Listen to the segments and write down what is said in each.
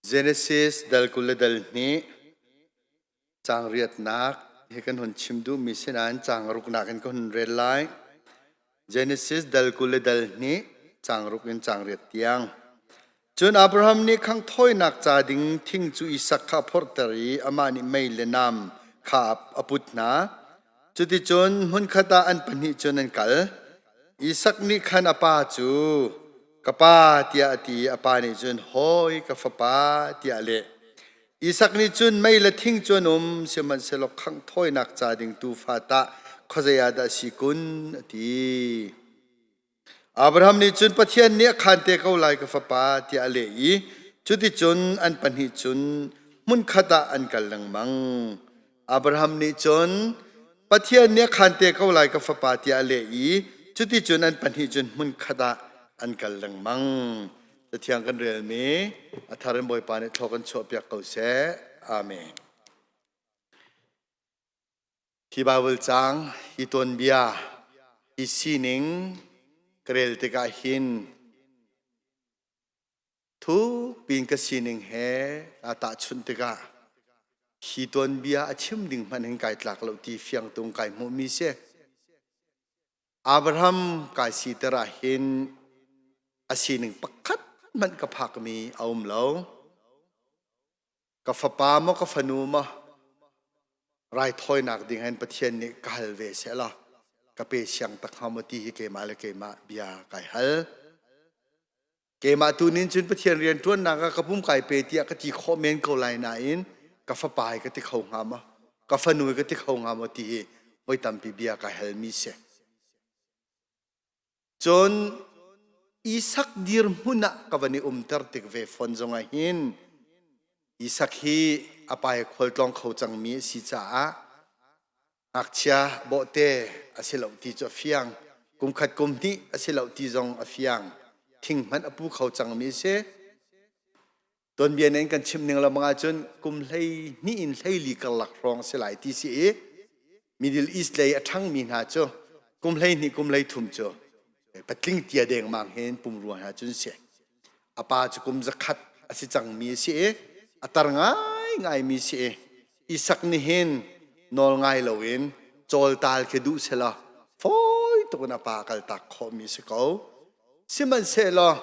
Genesis dal kul le dal hnih caang riatnak hi kan hun chim duhmi sinain caang ruknak in ka hun rel lai. Genesis dal kul le dal hnih caang ruk in caang riat tiang. Cun Abraham nih khang thawinak ca ding thing cu Isak kha a phorhter i amah nih mei le nam kha a put hna. Cuticun hmunkhat ah an pahnih cun an kal. Isak nih khan a pa cu, Ka pa, tiah a ti i a pa nih cun, Hawi ka fapa, tiah a leh. Isak nih cun, Mei le thing cu an um, sihmanhsehlaw khangh thawinak ca ding tuufa tah khuazei ah dah a si kun? a ti. Abraham nih cun Pathian nih a khaan te ko lai ka fapa tiah a leh i cuticun an pahnih cun hmunkhat ah an kal lengmang. Abraham nih cun Pathian nih a khaan te ko lai ka fapa tiah a leh i cuticun an pahnih cun hmunkhat ah an kal lengmang. Cathiang kan relmi a thar in Bawipa nih thawk kan chuahpiak ko seh. Amen. Hi Baibal caang i tuanbia i sining ka rel tikah hin thuk piin ka sining he aa tahchunh tikah hi tuanbia a chim ding hmanhin kai tlak lo ti fiang tung kai hmuhmi si. Abraham kai si ter ah hin a sining pakhat hmanh ka phakmi a um lo. ka fapa maw ka fanu maw raithawinak ding hin Pathian nih ka hal ve se la ka pe siang tak hnga maw ti hi keimah le keimah bia kai hal keimah tu nin cun Pathian rian ṭuannak ah ka pum kai pe tiah ka ti khawh men ko lai nain ka fapa hi ka ti kho hnga ma ka fanu hi ka ti kho hnga maw ti hi voi tampi bia kai hal mi si Cun Isak dirhmun ah ka van i umter tik ve fawn zong ah hin Isak hi a pai khualtlawng kho cangmi a si caah ngakchia bawhte a si loh ti cu a fiang kumkhat kum hnih a si loh ti zong a fiang thing hmanh a pu kho cangmi a si Tonbian in kan chim ning lengmang ahcun kum hlei hnih in hleili karlak hrawng si lai ti si i Middle East lei a ṭhangmi hna cu kum hlei hnih kum hlei thum cu patling tia dengmang hin pum ruang hna cun si. A pa cu kum zakhat a si cangmi a si i a tar ngaingaimi si i Isak nih hin nawl ngai loin cawltal khi duh sela fawi tuk in a pa kal tak khawhmi si ko. Sihmanhsehlaw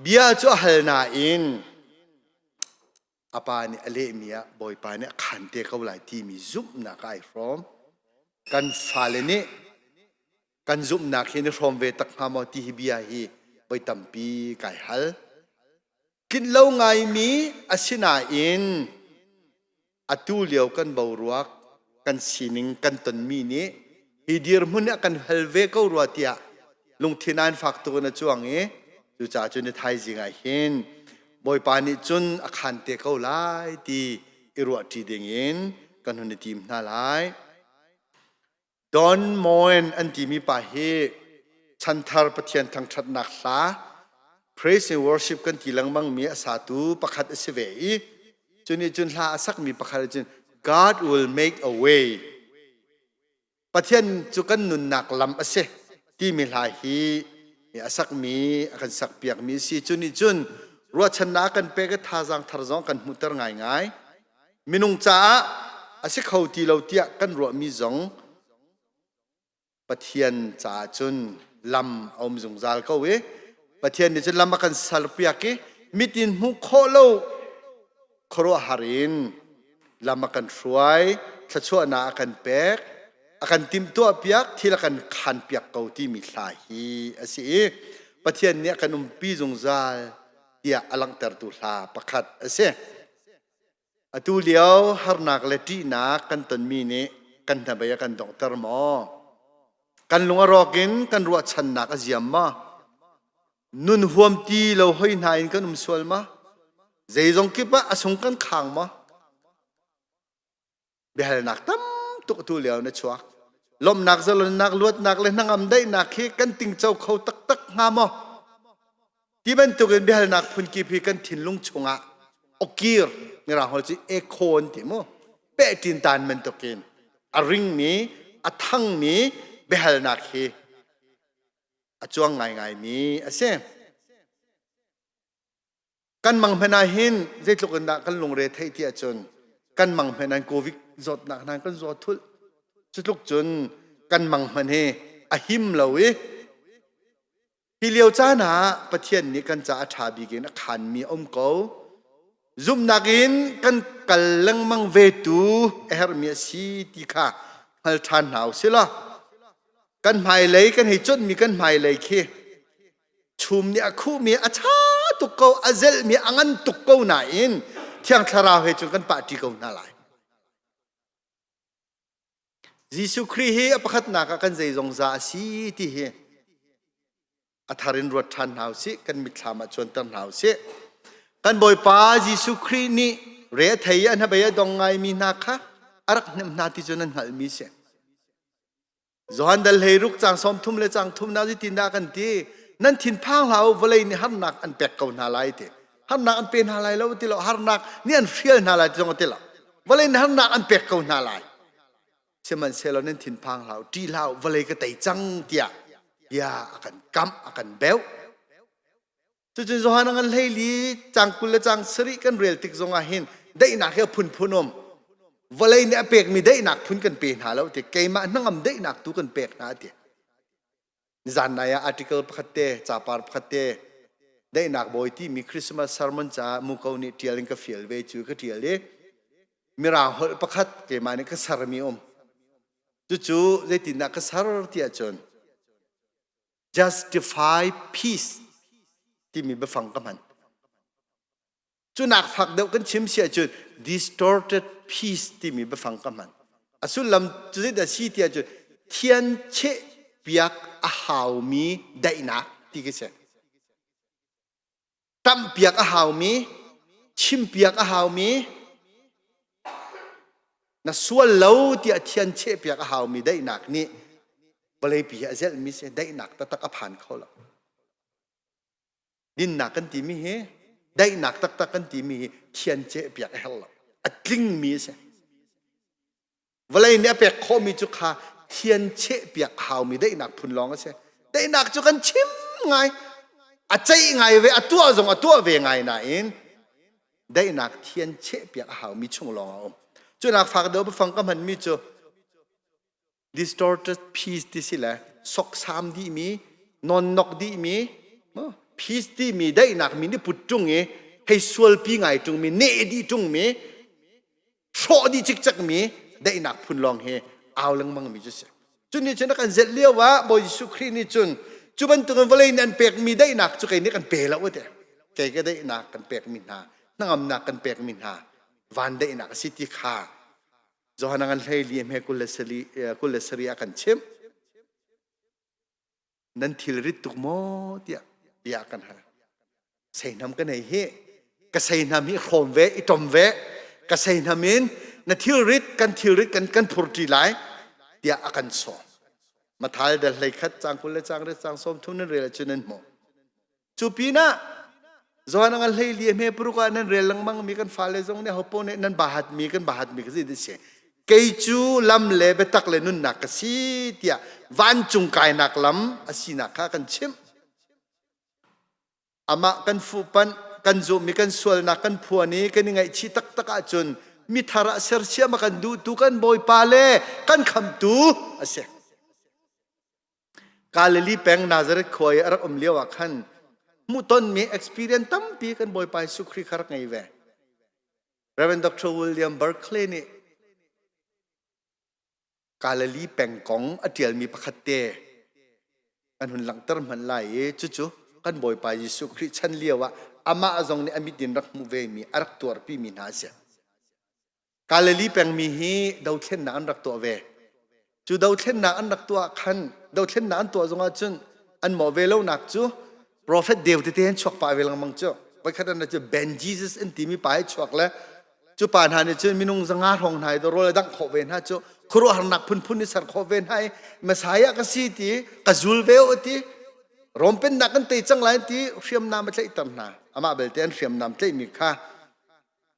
bia cu a hal nain a pa nih a lehmi ah Bawipa nih a khaan te ko lai timi zumhnak ai hrawm. Kan fale nih kan zumhnak hi na hrawm ve tak hnga maw ti hi bia hi voi tampi kai hal. Tlinh lo ngaimi asinain atu lio kan boruak kan sining kan tonmi nih hi dirhmun ah kan hal ve ko rua tiah lungthin an fak tuk in a cuang i cucaah cun i thaizing ah hin bawipa nih cun a khan te ko lai ti i ruahṭi ding in kan hun i tim hna lai. Don Moen an timi pa hi chanthar Pathian thangṭhatnak hla praise and worship kan ti lengmangmi a satu pakhat a si ve i cu nih cun hla a sakmi pakhat nih cun God will make a way Pathian cu kan nunnak lam a si timi hla hi a sakmi a kan sakpiakmi a si cu nih cun ruahchannak a kan pek i thazaang thar zong kan hmuhter ngaingai minung caah a si kho ti lo tiah kan ruahmi zong Pathian caah cun lam a um zungzal ko i Pathian nih cun lam a kan serpiak i mit in hmuh khawh lo khuaruahhar in lam a kan hruai thluachuahnak a kan pek a kan timtuah piak thil a kan khan piak ko timi hla hi a si i Pathian nih a kan umpi zungzal tiah a langhtertu hla pakhat a si. Atu lio harnak le ṭihnak kan tonmi nih kan hnabei a kan donghter maw? Kan lung a rawk in kan ruahchannak a ziam maw? Nun huam ti lo hoi hna in kan um sual ma? Zeizong kip ah a sung kan khang maw? biahalnak tam tuk tu leo na chuak lomnak zalonnak luatnak le hnangam daihnak khi kan tingco kho taktak hnga maw ti bantuk in biahalnak phunki phi kan thinlung chungah okir ngira hol ci ekhon ti mu pe tin tan men tokin a ringmi a thangmi biahalnak hi a chuang ngai ngai mi a si kan mang hmanh ah hin zeitluk in dah kan lungre theih ti ahcun kan mang hmanh ah covid zawtnak nan kan zaw thulh cutluk cun kan mang hmanh hi a him lo i hi lio caan ah pathian nih kan ca a ṭha bik in a khanmi a um ko zumhnak in kan kal lengmang ve tu a herhmi a si ti kha hngal ṭhan hna u sih law kan hmailei kan hei chawnhmi kan hmailei khi chum nih a khuhmi a ṭha tuk ko a zelhmi a ngan tuk ko nain thiang thlarau he cun kan pahṭi ko hna lai Jesuh Khrih hi a pakhatnak ah kan zei zongza a si ti hi a thar in ruat ṭhan hna u sih kan mitthlam ah cuanter hna u sih kan bawipa Jesuh Khrih nih re thei an habei a dong ngaimi hna kha a rak hnem hna ti cu nan hngalhmi si Johan dal hleiruk cang som thum le cang thum na zitin dah kan ti nan thinphang hla u vawlei nih harnak an pek ko hna lai ti harnak an pe hna lai lo ti lo harnak nih an hrial hna lai ti zong ti lo vawlei nih harnak an pek ko hna lai sihmanhsehlaw nan thinphang hlah u ṭi hlah u vawlei ka tei cang tiah bia a kan kamh a kan beuh Cucun Johan an hleili cang kul le cang sarih kan rel tik zongah hin daihnak hi a phunphun um vawlei nih a pekmi daihnak phun kan pe hna lo ti keimah hnangam daihnak tu kan pek hna ti zanai ah article pakhat te capar pakhat te daihnak bawi timi Christmas sermon caah muko nih tial in ka fial ve cu ka tial i mirang holh pakhat keimah nih ka sermi um cucu zeitindah ka ser tiah cun justify peace timi biafang ka hman cu nak fak deuh kan chim si ahcun distorted peace timi biafang ka hman a sullam cu zeidah si ti ahcun thian cheh piak a haumi daihnak ti ka si Tampiak a haumi, chimpiak a haumi, na sual lo tiah thian chehpiak a haumi daihnak nih vawleipi a zelhmi si daihnak taktak a phan kho lo. Dinnak kan timi hi daihnak taktak kan timi hi thian cehpiak a herh lo. A tlingmi a si. vawlei nih a pek khawhmi cu kha thian chehpiak haumi daihnak phun lawng a si daihnak cu kan chim ngai a ceih ngai ve a tuah zong a tuah ve ngai nain daihnak thian chehpiak a haumi chung lawng a um cunak fak deuh bafang ka hmanmi cu distorted peace ti si le soksam dihmi nonnok dihmi peace timi daihnak mi nih put ṭung i hei sualpi ngai ṭungmi neh dih ṭungmi hrawh dih cikcekmi daihnak phun lawng hi au lengmangmi cu si cu ni cun kan zelh lio ah Bawi Jesuh Khrih nih cun cu bantukin vawlei nih an pekmi daihnak cu kei nih kan pe lo te kei ka daihnak kan pekmi hna hnangamnak kan pekmi hna van daihnak a si ti kha Johanna ngan hlei li hme kul le sari, kul le sari ah kan chimh nan thilrit tuk maw tiah bia kan ha seinam ka nei hi ka seinam hi hrawm ve i tom ve ka seinam in na thilrit kan thilrit kan kan phurti lai tiah a kan so mathal dal hlei khat chang kul le chang re chang som thun nan rel chu nan hmu Cu pinah Zoan ang a hleili hme paruk ah nan rel lengmang mi kan fale zong nih hopo nih nan bahat mi kan bahat mi ka si ti si. Kei cu lam le biatak le nunnak ka si tiah vancung kainak lam a sinak kha kan chimh. Amah kan fuhpanh, kan zumh i kan sualnak kan phuan i kan i ngaihchih taktak ahcun mi thar ah sersiam a kan duhtu kan Bawipa le kan khamtu a si. Galilee peng Nazareth khua i a rak um lio ah khan hmuhtonmi experience tampi kan Bawipa Jesuh Khrih kha rak ngei ve. Reverend Dr. William Berkeley nih Galilee peng kong a ṭialmi pakhat te kan hun langhter hmanh lai i cucu kan Bawipa Jesuh Khrih chan lio ah amah zong nih a mit in rak hmuh vemi a rak tuarpimi hna a si. Galilee pengmi hi dothlennak an rak tuah ve. Cu dothlennak an rak tuah khan dothlennak an tuah zongah cun an mawh ve lonak cu profet deu tete an chuak pah ve lengmang cu. Voikhat an cu Ben Jesus an timi pa hi chuak le cu pa hna nih cun minung zanga hrawng hna i rawl a dangh khawh ve hna cu khuaruahharnak phunphun i ser khawh ve hna i Messiah ka si ti ka zul ve u ti Rom pennak kan tei cang lai ti hriamnam a tlaihter hna. Amah belte an hriamnam tlaihmi kha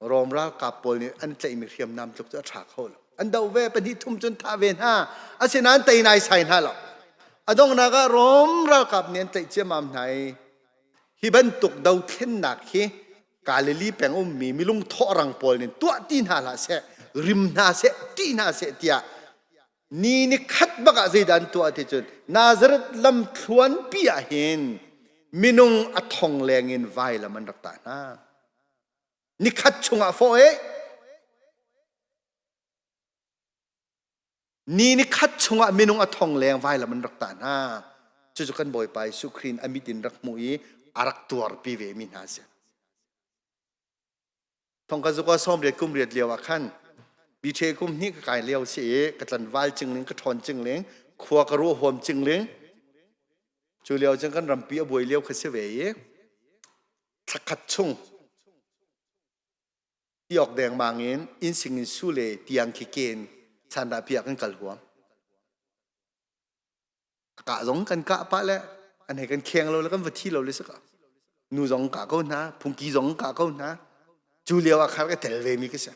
Rom ralkap pawl nih an tlaihmi hriamnam tluk cu a ṭha kho lo. An doh ve pahnih thum cun thah ve hna. Asinain tei naisai hna lo. A donghnak ah Rom ralkap nih an tlaih ciammam hna i hi bantuk dothlennak hi Galilee peng ummi milung thawhrang pawl nih tuahti hna hlah seh, rim hna seh, ṭih hna seh tiah ni ni khat bak ah zeidah an tuah ti cun Nazareth lam thluanpi ah hin minung a thong leng in vailam an rak tah hna. Nikhat chungah fawh e. Ni nikhat chungah minung a thong leng vailam an rak tah hna. Cucu kan Bawipa Jesuh Khrih in a mit in rak hmuh i a rak tuarpi ve mi hna si. Thongka zuka sawm riat kum riat lio ah khan biṭhe kum hnih ka kai lio si i ka tlan val cingling ka ṭhawn cingling khua ka ruah huam cingling cu lio cun kan rampi a buai lio kha si ve i thla khat chung ti awk dengmang in insing in su le tiang khi ken chandah piak in kal huam ka zong kan ka pa le an he kan kheng lo le kan va thi lo le saka nu zong ka ko hna phungki zong ka ko hna cu lio ah khar ka tel ve mi ka si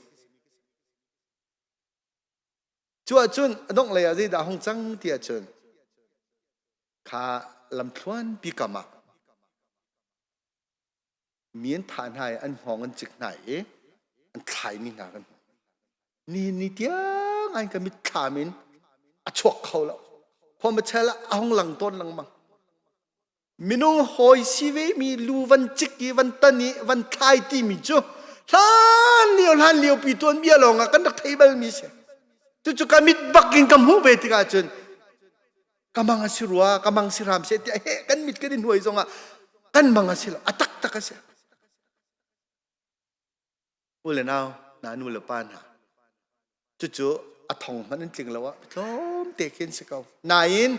cu ahcun a dongh lei ah zeidah hong cang ti ahcun kha lamthluan pi kam ah mi an thah hna i an hngawng an cik hna i an thlai mi hna kan hmu ni ni tiang an ka mit thlam in a chuak kho lo khom a chel ah a hong lang tawn lengmang minung hawi si ve mi lu van cik i van tan i van thlai ti mi cu hlan lio hlan lio pi tuan bia lawng ah kan rak thei bal mi si tu cu ka mit bak in ka hmuh ve tikah cun ka mang a si rua ka mang si hram seh tiah he kan mit kan in hnuai zongah kan mang a si lo a taktak a si nu le nau na nu le pa hna cucu a thong hmanh an tling lo ah tlawm te khin si ko nain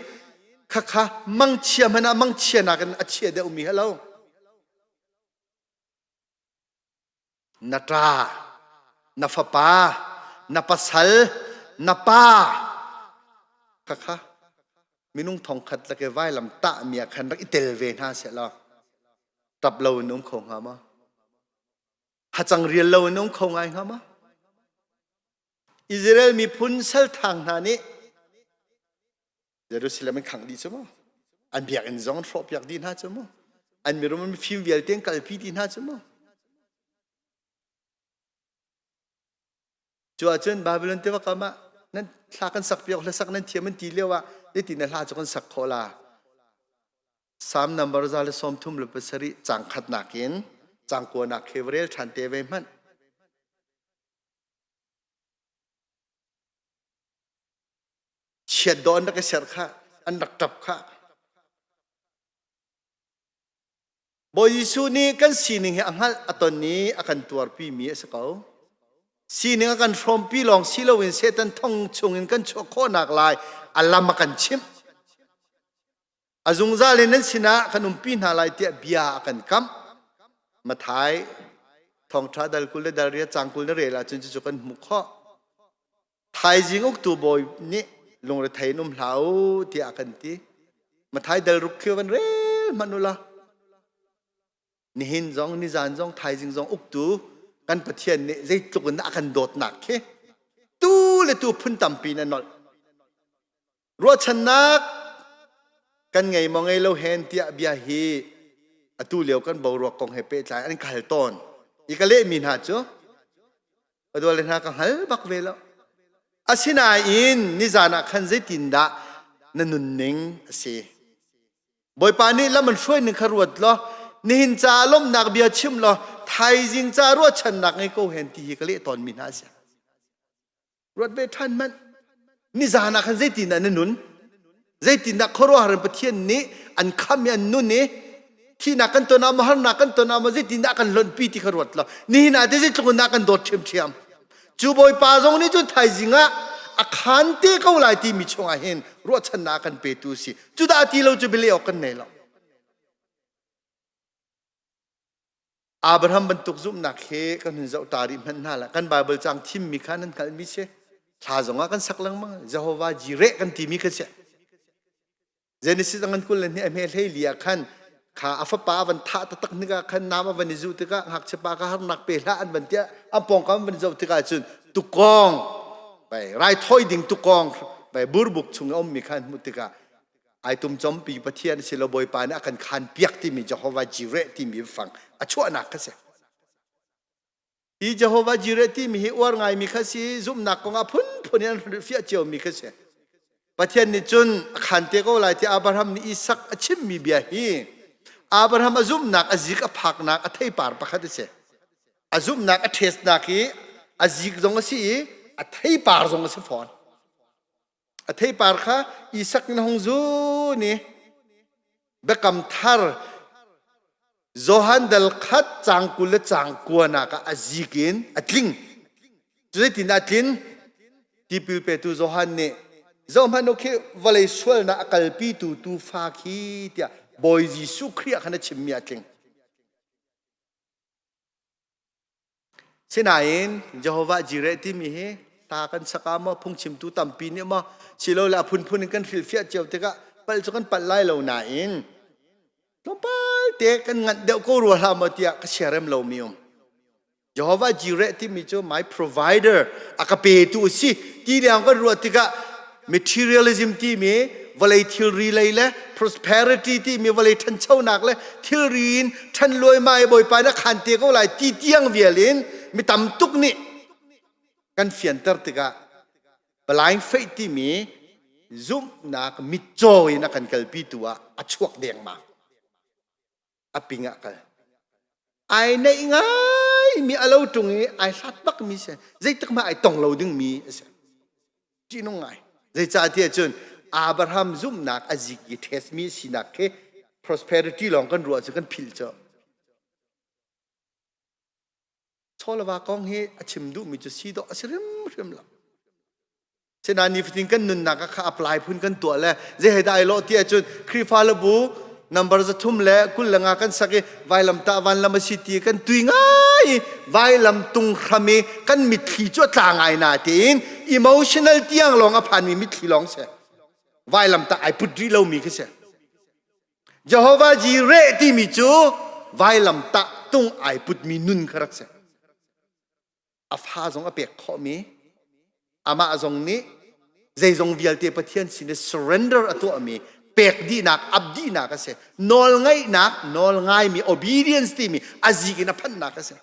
khakha mangchia hmanh ah mangchia nakin a chia deuh mi ha lo na ṭa, na fapa, na pasal, na pa, khakha minung thongkhat lake vailam tahmi ah khan rak i tel ve hna seh law ṭap lo in um kho hnga maw hacang rial lo in um kho ngai hnga maw Israel miphun salthang hna nih Jerusalem an khangh dih cu mu an biakinn zong hrawh piak dih hna cu mu an mirum an mifim vialte an kalpi dih hna cu mu cu ahcun Babylon tiva kam ah nan hla kan sak piak hla sak nan thiam an ti lio ah ti na hla cu kan sak kho la Psalm number za le sawm thum le pasarih cang khat nakin cang kuan ah khevrel ṭhan te ve hmanh chiat dawh an rak i ser khah an rak ṭap khah Bawi Jesuh nih kan sining hi a hngalh a ton i a kan tuarpi mi a si ko sining a kan hrawmpi lawng si loin Satan thong chungin kan chuah khawhnak lai a lam a kan chimh a zungzal in nan sinah kan umpi hna lai tiah bia a kan kamh Mathai thawngṭha dal kul le dal ria cang kul na rel ahcun cucu kan hmuh khawh thaizing uktu bawi nih lungrethei in um hlah u tiah a kan ti. Mathai dal ruk khi van rel hmanh u la. Nihin zong, nizan zong, thaizing zong uktu kan Pathian nih zeitluk in a kan dawtnak khi tu le tu phun tampi in a nolh. ruahchannak kan ngei maw ngei lo hen tiah bia hi atu lio kan boruak kong he pehtlai an ka hal tawn i ka lehmi hna cu ka dual le hna ka hngal bak ve lo asinain nizan ah khan zeitindah na nunning a si bawipa nih lam an hruai ning kha ruat law nihin ca lomnak bia chim law thaizing ca ruahchannak ngei ko hen ti hi ka leh tawnmi hna a si ruat ve ṭhan hmanh nizaan ah khan zeitindah na nun zeitindah khuaruahhar pathian nih an kham i an nun i thihnak kan ton ah maw harnak kan ton ah maw zeitindah kan lonpi ti kha ruat lo nihin ah te zeitluk in dah kan dawt ṭhiamṭhiam cu bawipa zong nih cun thaizing ah a khan te ko lai timi chungah hin ruahchannak kan petu si cu dah ti lo cu bialeh awk kan nei lo Abraham bantuk zumhnak he kan hun zoh ta rih hmanh hna lah. Kan Bible caang thimmi kha nan hngalhmi si. Thla zongah kan sak lengmang. Jehovah Jire kan timi kha si. Genesis angan kul le hnih ahme hleili ah khan kha afapa van tha taktak nika khan nam avan i zu tika ngakchia pa ka harnak pe hla an van tia ampong kam van zo tika cun tukong bai rai thoi ding tukong bai burbuk chung om mi khan mu tika ai tum chompi pathian si lo bawipa nih a kan khan piak timi Jehovah Jireh timi fang a chuahnak kha si hi Jehovah Jireh timi hi uar ngaimi kha si zumhnak kongah phunphun in an fiah cio mi kha si Pathian nih cun a khan te ko lai ti Abraham nih Isak a chimmi bia hi Abraham a zumhnak a zik a phaknak a theipar pakhat a si a zumhnak a ṭhesnak hi a zik zong a si i a theipar zong a si fawn a theipar kha Isak in hong zu ni biakam thar Johan dal khat cang kul le cang kuanak ah a zik in a tling zeitin a tlin tipil petu Johan nih zohhmanh u khi vawlei sualnak a kalpitu tuufa khi tiah Bawi Jesuh Khrih ah khan a chimmi a tling Sinain Jehovah Jireh timi hi ta kan sak ah maw phungchimtu tampi nih maw silole a phunphun in kan hrilhfiah cio tikah palh cu kan palh lai lo nain tlawmpal te kan nganh deuh ko rua hlah maw tiah ka siarem lomi um. Jehovah Jireh timi cu my provider a ka petu a si ti leng kan ruah tikah materialism timi vawlei thilri lei le prosperity timi vawlei ṭhanchonak le thilri in ṭhan luaimai bawipa na khan te ko lai ti tiang vial in mi tam tuk nih kan fianter tikah blind faith timi zumhnak mitcaw in a kan kalpi tu ah a chuak dengmang a ping ah kal ai neih ngaimi a lo ṭung i ai hlat bakmi si zeitik mah ai tong lo dingmi a si ṭihnung ngai zeicahtiah cun Abraham zumhnak a zik i ṭhesmi sinak khi prosperity lawng kan ruah cu kan philh cu Chawlava kong hi a chim duhmi cu si dawh a si hrimhrim lo Sinain nifatin kan nunnak kha apply phun kan tuah le zei he dah ai lawh ti ahcun Khrihfa Labu nambar zathum le kul le nga kan sak i vailam tah vanlam a si ti kan tui ngai i vailam tung hram i kan mitthli cu a tla ngai na tiin emotional tiang lawng a phanmi mitthli lawng si vailam tah ai put rih lomi khi si Jehovah ji reh timi cu vailam tah tung ai putmi nun kha rak si a fa zong a pek khawhmi amah zong nih zeizong vialte Pathian sin i surrender a tuahmi pek dihnak abdihnak a si nawl ngaihnak nawl ngaimi obedience timi azik in a phannak a si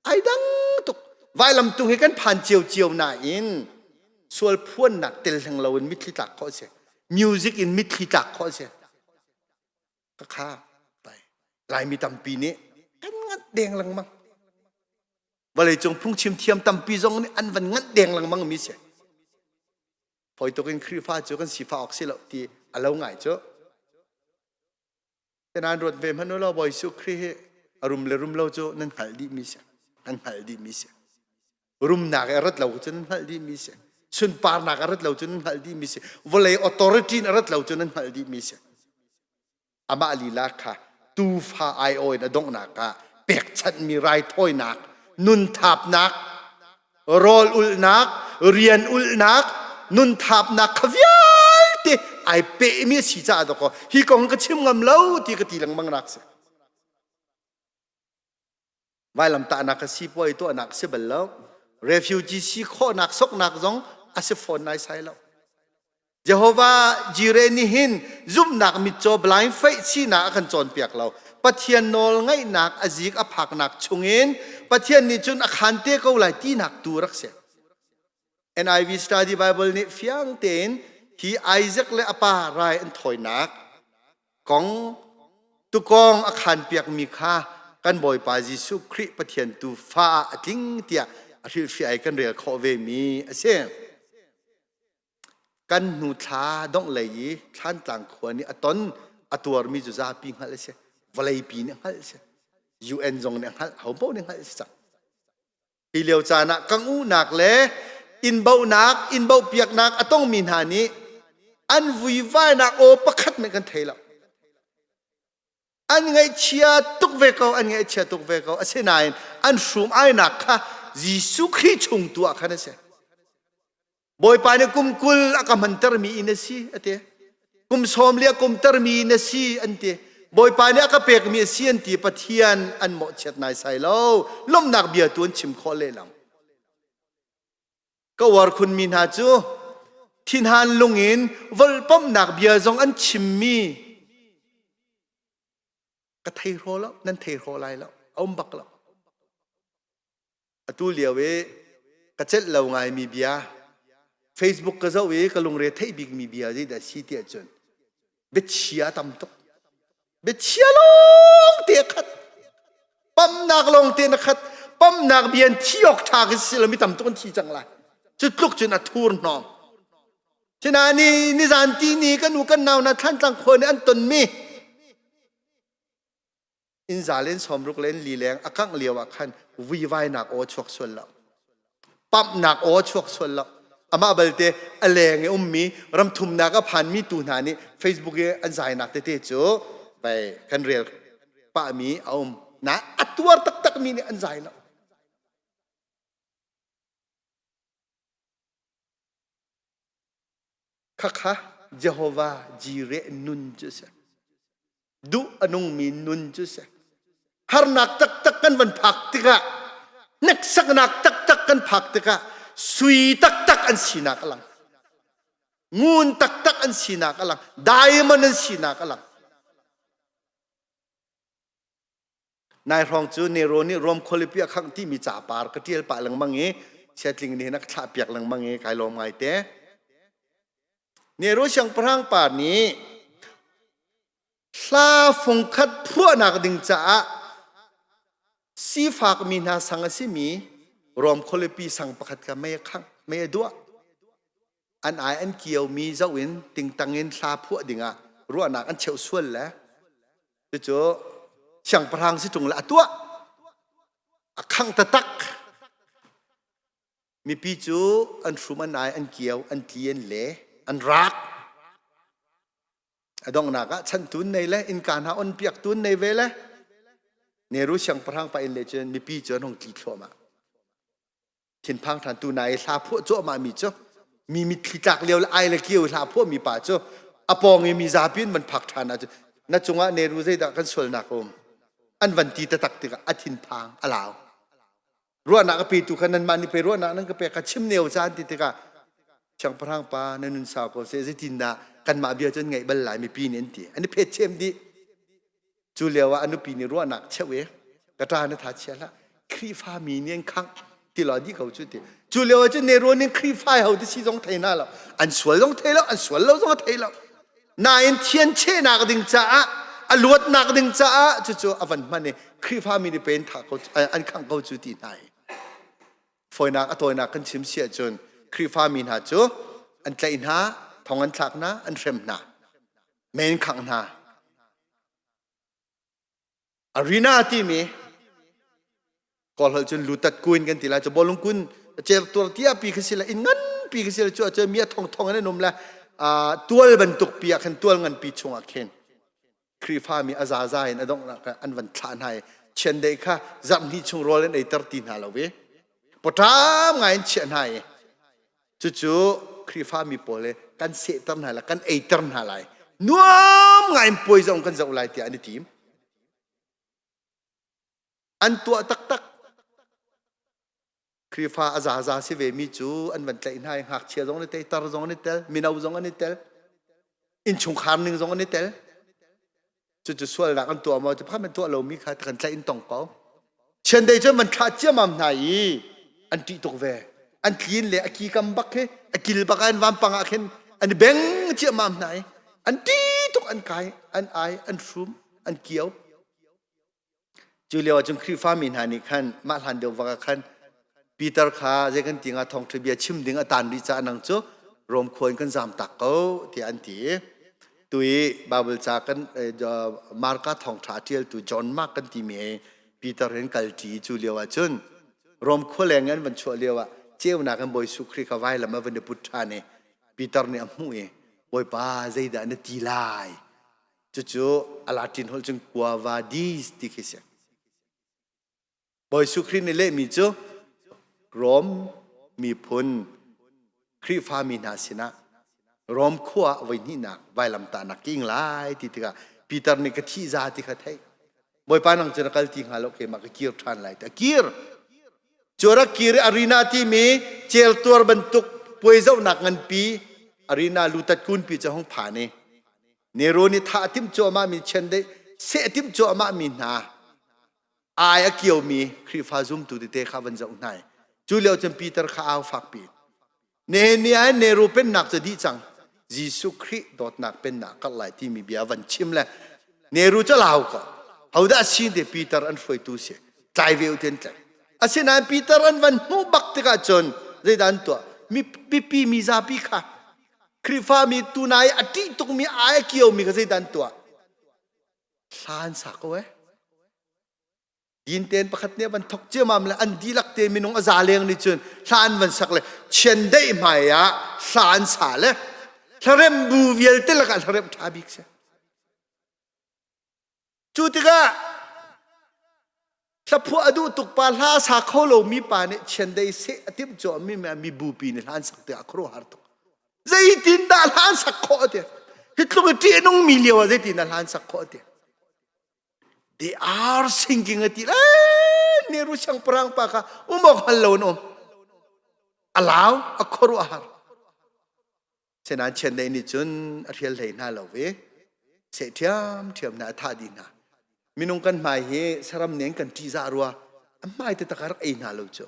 ai dang tuk vailamtung hi kan phan cio cio nain sual phuannak tel hleng lo in mitthli tlak khawh a si music in mitthli tlak khawh a si ka kha tai laimi tampi nih kan ngant deng lengmang vawleicung phungchim thiam tampi zong nih an van ngant deng lengmang mi si poi tuk in Khrihfa cu kan sifa awk si lo ti a lo ngai cu tenan ruat ve hmanu lo bawi su Khrih hi a rum le rum lo cu nan hngal dih mi si nan hngal dih mi si rumnak a rat lo cun hngalh dih mi si sunparnak a rat lo cun hngalh dih mi si vawlei authority in a rat lo cun hngalh dih mi si amah lila kha tuufa aiawi in a donghnak ah pekchanhmi raithawinak nun thapnak rawl ulhnak rian ulhnak nun thapnak kha vialte ai pehmi a si caah doko hi kong ka chim ngam lo ti ka ti lengmang nak si vailamtahnak a sipuai tuahnak si bal lo refugee si khawhnak soknak zong a si fawn nai sai lo Jehovah Jireh nih hin zumhnak mitcaw blind faith sinak a kan cawnpiak lo Pathian nawl ngaihnak a zik a phaknak chungin Pathian nih cun a khan te ko lai tinak tu rak si NIV Study Bible nih fiang tein hi Isaac le a pa rai an thawinak kong tukong a khan piakmi kha kan Bawipa Jesuh Khrih Pathian tu fa ah a tling tiah a hrilhfiah i kan rel khawh vemi a si. Kan hnu thla dongh lei i thlantlang khua nih a ton a tuarmi cu zapi hngalh a si. Vawleipi nih hngalh a si. UN zong nih hngalh, ho paoh nih hngalh a si cang. Hi lio caan ah kang uhnak le inbohnak, inbohpiaknak a tongmi hna nih an vuivainak aw pakhat nih kan thei lo. An ngaihchia tuk ve ko, an ngaihchia tuk ve ko. Asinain an hrum ainak kha Jesuh Khrih chung tu ah khan a si. Bawipa nih kum kul a ka hmantermi in a si a ti. Kum sawm le kum termi in a si an ti. Bawipa nih a ka pekmi a si an ti Pathian an mawhchiat nai sai lo. Lomnak bia tu an chim khawh lelang. Ka uar khunmi hna cu thinhan lung in volpomnak bia zong an chimmi ka thei hraw lo nan thei hraw lai lo a um bak lo atu lio i ka celh lo ngaimi bia facebook ka zoh i ka lungre theih bikmi bia zeidah a si tiah cun biachia a tam tuk biachia lawng te khat pamnak lawng te na khat pamnak bia in thi awk ṭha ka si lo mi tam tuk an thi cang lai cu tluk cun a thur hnawm sina ni nizan ti ni kan u kan nau na thlan tlang khuan i an tonmi inn za len sawmruk len lileng a kangh lio ah khan vuivainak aw chuak sual lo pamhnak aw chuak sual lo amah balte a leng i ummi ramthumnak a phanmi tu hna nih facebook i an zainak tete cu vai kan rel pahmi a um na a tuar taktakmi nih an zai lo Khakha Jehovah jireh nun cu a si. Duh a nungmi nun cu a si. Harnak taktak kan van phak tikah, hneksaknak taktak kan phak tikah, sui taktak an sinak a lang. Ngun taktak an sinak a lang. Diamond an sinak a lang. nai hrawng cu Nero nih Rome khualipi a khangh timi capar ka ṭial pah lengmang i chiatling nih hin a ka thlah piak lengmang i kai lawm ngai te. Nero siangpahrang pa nih hla fung khat phuahnak ding caah sifak mi hna sang a simi Rome khualipi sang pakhat kha mei a khangh, mei a duah. an ai an kiomi zoh in tingtang in thla phuah dingah ruahnak an cheu sual le cucu siangpahrang si tung le a tuah a khang tatak mipi cu an hrum an ai an kio an tli an le an rak a donghnak ah chan tun nei le innka hna on piak tun nei ve le neru siangpahrang pa in le cun mipi cu an hong tli thluahmah thinphang than tu na i hla phuah cuahmah mi cu mi mitthli tlak lio le ai le kio hla phuah mi pa cu apawng i mi zapi in van phak than ahcun na cungah neru zeidah kan sualnak um an van ti tatak tikah a thinphang a lau ruahnak a petu kha nan mah nih pe ruahnak nan ka pe ka chim neo caan ti tikah siangpahrang pa na nun sau ko se zeitin dah kanmah bia cun ngaih bal lai mipi nih an ti an i phet chem dih cu lio ah a nupi nih ruahnak cheuh i ka ṭa na tha chia hlah Khrihfa mi nih an khangh ti lo di ko cu ti cu lio ah cun neruan in Khrihfa ho ti si zong thei na lo an sual zong thei lo an sual lo zong thei lo nain thianchehnak ding caah a luatnak ding caah cucu a van hman i Khrihfa mi nih pen tha ko an khangh ko cu ti hna i fawinak a tawinak kan chim si ahcun Khrihfa mi hna cu an tlaih hna thong an thlak hna an hrem hna Men khang hna. Arena timi kolhol cun lutat kuin kan ti lai cu bolung kun cel tuar tia pi kha sila in ngan pi kha sila cu cu mi thong thong an um la tual bantuk pi ah khan tual ngan pi chungah khin Krifa mi azaza in adong an van thla hna i chiandei kha zarhni chung rawl in ei ter ti hna lo ve potam ngai in chiah hna i cucu khrihfami pawl le kan sehter hna lai kan eiter hna lai nuam ngaiin puai zong kan zoh lai tiah an i tim an tuah taktak khrihfa a zaza si ve mi cu an van tlaih hna i ngakchia zong an i teiter zong an i tel mino zong an i tel innchungkhar ning zong an i tel cucu sualnak an tuah maw tiphan man tuah lomi kha kan tlaih in tong ko chiandei cu man tha ciamam hna i an tih tuk ve an tlin le a ki kam bak he a kil bak an vampang ah khin an beng ciamam hna i an ti tuk an kai an ai an shrum an kio Cu lio ah cun Khrihfami hna nih khan mah hlan deuh bak ah khan Peter kha zei kan ti hnga thawngṭha bia chim ding a taan rih caah nang cu Rom khua in kan zamtak ko tiah an ti i tu i Baibal ca kan Marka thawngṭha a ṭialtu John Mark kan timi he Peter in kalṭi i cu lio ah cun Rom khua leng in an van chuah lio ah ceunak in Bawi Jesuh Khrih kha vailam ah van i put ṭhan i Peter nih a hmuh i Bawipa zeidah na ti lai cucu alatin hol cun kua vadis ti khi si bawi su khrih nih lehmi cu rom miphun khrihfa mi hna sinah rom khua ah voi hnihnak vailam ta nak king lai ti tikah Peter nih ka thih za ti kha theih bawipa nang cun a kal ti hnga lo keimah ka kir ṭhan lai ta kir cu rak kir arena timi cel tuar bantuk puai zohnak nganpi arena lutat kunpi cu hong phan i Nero nih thah a timh cuahmah mi chiandeih seh timh cuahmah mi hna ai a kio mi Khrihfa zumtu tete kha van zoh hna i cu lio cun Peter kha au fakpi Nehemiah in Nero pennak cu dih cang Jesuh Khrih dawtnak pennak karh lai timi bia van chim le Nero cu lau ko hodah si te Peter an hruaitu si tlai ve uten tlai asinain Peter an van hmuh bak tikah cun zeidan tuah mipi mizapi kha Khrihfami tuna i a ṭih tukmi ai a kiomi kha zeidah an tuah? Hlan sa ko e. Din tein pakhat nih van thok ciamam le an dihlak te minung a za leng nih cun hla an van sak le chiandeih hmai ah hla an sa le hlarem bu vialte lakah hlarem ṭha bik si. Cu tikah thlaphuah a duh tuk pa hla a sa kho lomi pa nih chiandei seh a timh cuahmi mibupi nih hla an sak tikah a khuaruahhar tuk. Zeitindah hla an sak khawh a ti? Hi tluk i ṭihnungmi lio ah zeitindah hla an sak khawh a ti? They are singing a ti lai ne ru siangpahrang pa kha um awk hngal lo an um. A lau, a khuaruahhar. senan chen nei nih cun a hrial hlei hna lo ve se ṭhiam ṭhiam na a thah di hna minung kan hmai hi saram nen kan ṭi za rua a hmai te takar ei hna lo cu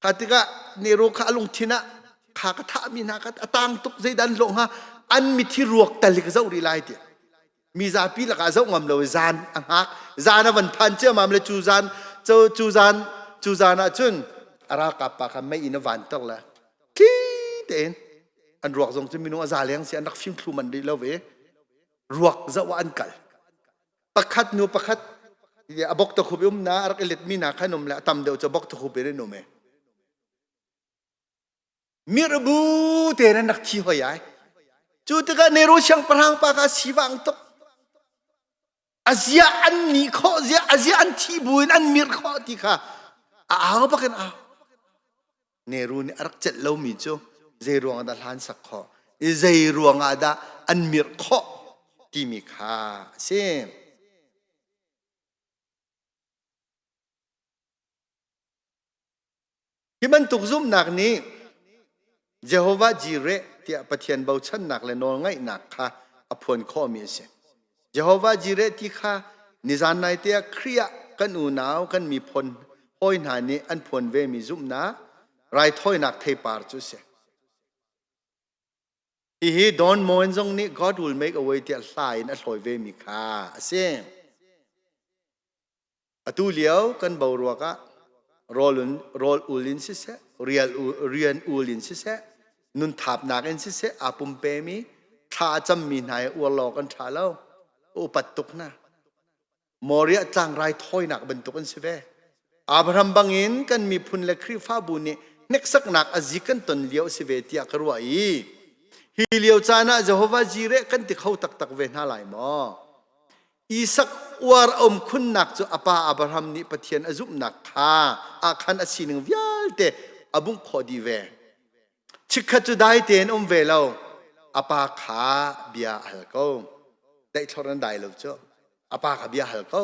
kha tikah nero kha a lungthin ah kha ka thahmi hna ka atang tuk zeidan lo hnga an mithi ruak talik zo ri lai tiah mi zapi lakah zoh ngam lo zan a hngak zan a van phan ciamam le cu zan cu cu zan cu zan ah cun a ralkap pa kha mei in a van tok le thi tein an ruak zong cu minung a za leng si an rak fing thlu man rih lo ve ruak zoh an kal pakhat nu pakhat a bok ta khup um na rak i let mi na khan um le a tam deuh cho bok ta khup in um e mirbu tein an rak thi hoi ai cu tikah Nero siangpahrang pa kha a sivang tuk azia an ni khawh zia azia an thi bu in an mir khawh ti kha a au bak in au Nero nih a rak celh lomi cu zei ruang ah dah hlan sak khawh i zei ruang ah dah an mir khawh timi kha a si Hi bantuk zumhnak nih Jehovah Jireh tiah Pathian bochannak le nawlngaihnak kha a phuan khawhmi a si. Jehovah Jireh ti kha nizan naite ah Khrih ah kan unau, kan miphun hawi hna nih an phuan vemi zumhnak raithawinak theipar cu a si. Hihi Don Moen zong nih God Will Make a Way tiah hla in a hlawi vemi kha a si. Atu lio kan bo ruak ah rawl, in, rawl ul in siseh, rial ul, rian ul in siseh, nun thapnak in siseh aa pumpemi thla a cammi hna i uar law kan ṭha lo. Upat tuk hna. Moria tlangrai thawinak bantuk in si ve. Abraham bangin kan miphun le Khrihfabu nih hneksaknak azik kan ton lio si ve tiah ka ruah i hi lio caan ah Jehovah jire kan ti kho taktak ve hna lai maw? Isak uar a um khunnak cu apa Abraham nih Pathian a zumhnak kha ahkhan a sining vialte a bungh khawh dih ve. Chikkhat cu dai tein um ve lo apa kha bia a hal ko. Tlaihtlor nan dai lo cu apa kha bia hal ko.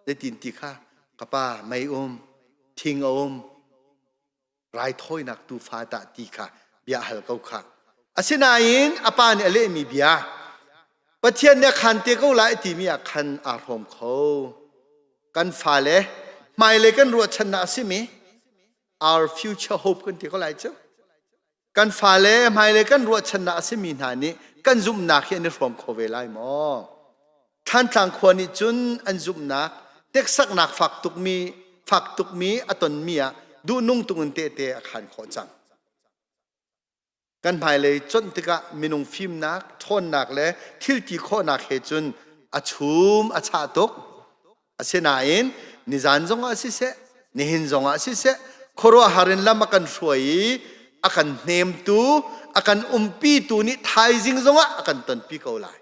Zeitin ti kha ka pa mei um, thing a um, raithawinak tuufa tah ti kha bia hal ko kha asinain a pa nih a lehmi bia pathian nih a khan te ko lai timi ah khan aa hrawm kho kan fale hmailei kan ruahchannak a simi our future hope kan ti ko lai cu kan fale hmailei kan ruahchannak a simi hna nih kan zumhnak hi an i hrawm kho ve lai maw Thlantlang khua nih cun an zumhnak teksaknak fak tukmi fak tukmi a tonmi ah duhnung tungin tehte a khan khawh cang. Kan hmailei cuanh tikah minung fimnak, ṭhawnnak le thilti khawhnak he cun a chum a chah tuk. Asinain nizan zongah siseh, nihin zongah siseh, khuaruahhar in lam a kan hruai i a kan hnemtu, a kan umpitu nih thaizing zongah a kan tonpi ko lai.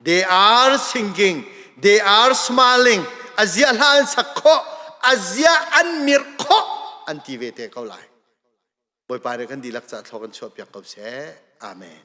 they are singing, they are smiling, azia hla an sak khawh, azia an mirh khawh an ti ve te ko lai. Bawipa nih kan dihlak ca thlo kan chuah piak ko seh. Amen.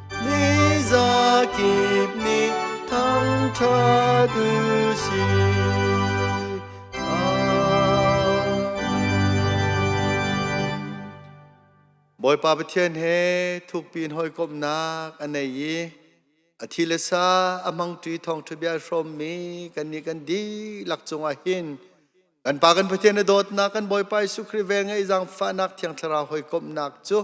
Miza kip nih thangṭha tu si. Bawipa Pathian he thukpi in hawikomhnak a nei i a thi le sa a hmang ṭi thawngṭha bia hrawmmi kan nih kan dihlak cungah hin kan pa kan Pathian i dawtnak kan Bawipa Jesuh Khrih vel ngeih zangfahnak Thiang Thlarau hawikomhnak cu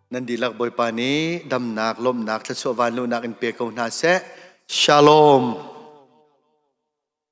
nan dihlak bawipa nih damnak lawmnak thluachuah vanlunak in pe ko hna seh shalom